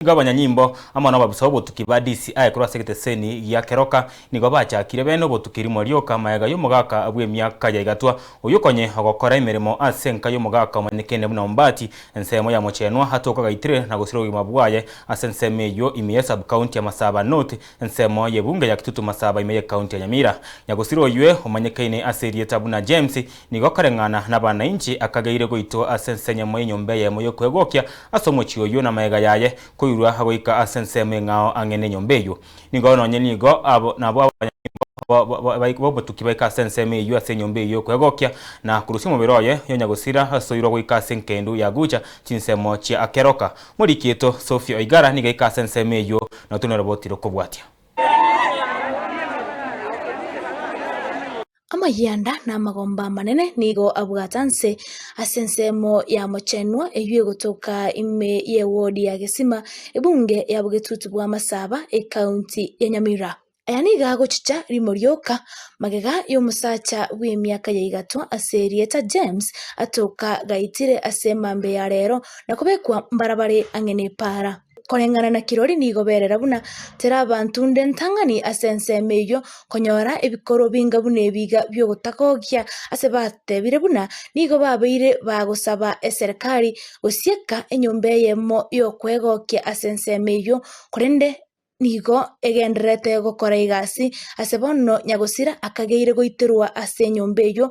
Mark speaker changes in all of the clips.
Speaker 1: Igo abanyanyimbo, amo nababusa b'obotuki ba DCI korwa ase egeteseni gia Keroka, nigo bachakire bene obotuki rimo rioka magega y'omogaka bw'emiaka ya Igatwa, oyio konye ogokora emeremo ase enka y'omogaka omanyekene buna Ombati, ensemo ya Mochenwa atoke Ogaitire na gosira obogima bwaye ase ensemo eyio ime ye Sub-county ya Masaba North, ensemo y'ebunge ya Kitutu Masaba ime y'ecounty ya Nyamira. Nyagosira oyio omanyekeine ase erieta buna James Nigo kareng'ana nabanainchi akageire goitwa ase ens'enyemo y'enyomba eyemo y'okwegokia ase omochie oyio namegega yaye, koirwa goika ase ensemo eng'ao ang'e nenyomba eyio. Nigo nonye nigo abo nabwo abanyamemba b'obotuki baika ase ensemo eyio ase enyomba eyio y'okwegokia, na korusia omobere oye yonyagosira asoirwa goika ase enkendu ya gucha chinsemo chia akeroka. Morikiito Sophie Oigara nigo aika ase ensemo eyio na otono eroboti rokobwatia.
Speaker 2: Amayianda na amagomba amanene nigo abwate nse ase ensemo y'amochenwa eyio egotoka ime y'ewodi ya Gesima, ebunge ya bogetutu bwa Masaba, ekaunti ya Nyamira. Aya nigo agochicha rimo rioka magega y'omosacha bw'emiaka ya igato ase erieta James atoka gaitire ase emambe ya rero na kobekwa mbarabare ang'e ne epaara. Koreng'ana na kirori nigo berera buna tera abanto nde ntang'ani ase ensemo eyio konyora ebikorwa binga buna ebi iga biogotagogia ase batebire buna nigo babeire bagosaba eserekari gosieka enyomba eyemo y'okwegokia ase ensemo eyio korende nigo egendererete gokora egasi ase bono Nyagosira akageire goiterwa ase enyomba eyio.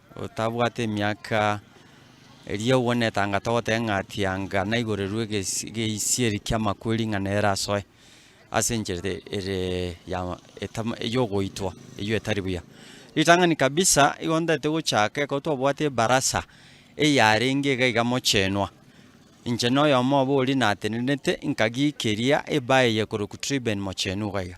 Speaker 3: otabwate emiaka, erio agwo netang'ata ogoteba ng'a atianga naiborerwe egesi egeisieri ki'amakweri ng'a nere asoe ase enchera ere ya etama eyogoitwa eyio etari buya. Ritang'ani kabisa igo ntaete gochaka ekero twabwate ebarasa eyarenge iga iga mochenwa, inche na oyomo obo oria natenenete nkagia keria ebae eye ekorokwa Triben mochenu iga iga.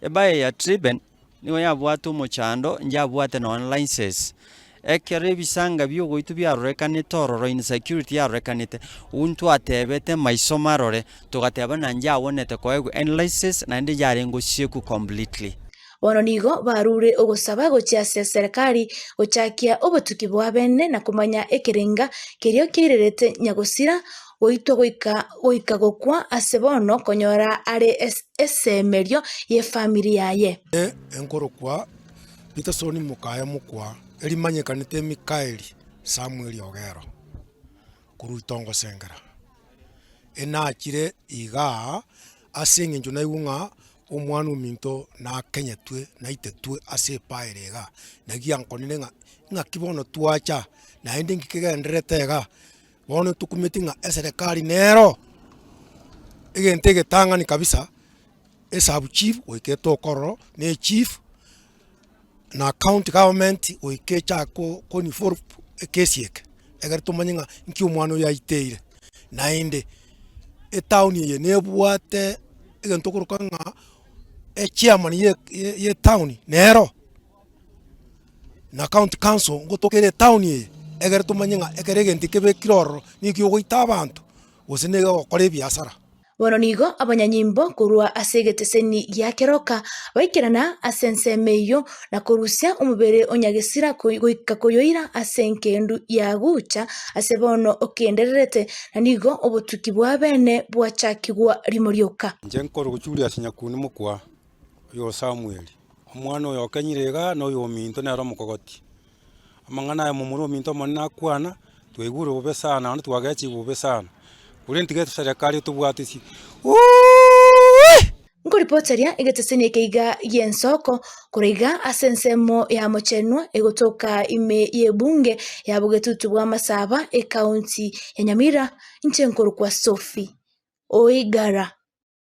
Speaker 3: Ebae eye ya Triben Nigo yabwate omochando, inche abwate nonya license. Ekero ebisanga biogoitwa biarorekanete ororo insecurity yarorekanete, ntwe atebete maiso marore, togateba na inche agwenerete koegwa any license naende inche arenge osiekwe completely. Bono nigo
Speaker 2: barure ogosaba gochia ase Serekari gochakia obotuki bw'abene na komanya ekerenga keria kiairerete Nyagosira goitwa goika goika gokwa ase bono konyora are esemerio y'efamiri yaye. Eye enkorokwa
Speaker 4: Pitasoni mokaye mokwa, erimanyekanete Mikaeli Samweli Ogero, korwa Itongosengera. Enachire iga ase eng'encho naigwe ng'a omwana ominto nakenyetwe naitetwe ase epaere iga. Naki ankonire ng'a ing'aki bono twacha naende inki kegendererete iga. Bono tokumeti ng'a eserekari nero egento egetang'ani kabisa, esabu chief goika etokororo, na echief, na county government goika echa ko ko involve ekesi eke, egere tomanye ng'a nki omwana oyo aiteire. Naende etown eye nebwate egento okoroka ng'a echairman ye ye etown nero. na county council ngotokeire etown eye, egere tomanye ng'a ekero egento ekebekire ororo neki'ogoita abanto gose negokora ebiasara. Bono nigo
Speaker 2: abanyanyimbo korwa ase egeteseni gia keroka baikerana ase ensemo eyio, na korusia omobere o Nyagesira koi- goika koyoira ase engendu yagucha ase bono okendererete, na nigo obotuki bw'abene bwachakigwa rimo rioka. Inche nkoroka Julius
Speaker 5: Nyakuni mokwa oyo o Samueli. Omwana oyo okenyire iga noyo ominto nere omokogoti. Amang'ana aya momura ominto omonene akwana, twaigure bobe sana naende twagechigwe bobe sana. Korende tiga eserekari etobwate isi Uuiiiih!
Speaker 2: Nkoribocharia egetosini eke iga gi'ensoko korwa iga ase ensemo y'amochenwa egotoka ime y'ebunge ya bogetutu bwa Masaba, ekaunti ya Nyamira, inche nkorokwa Sophie Oigara.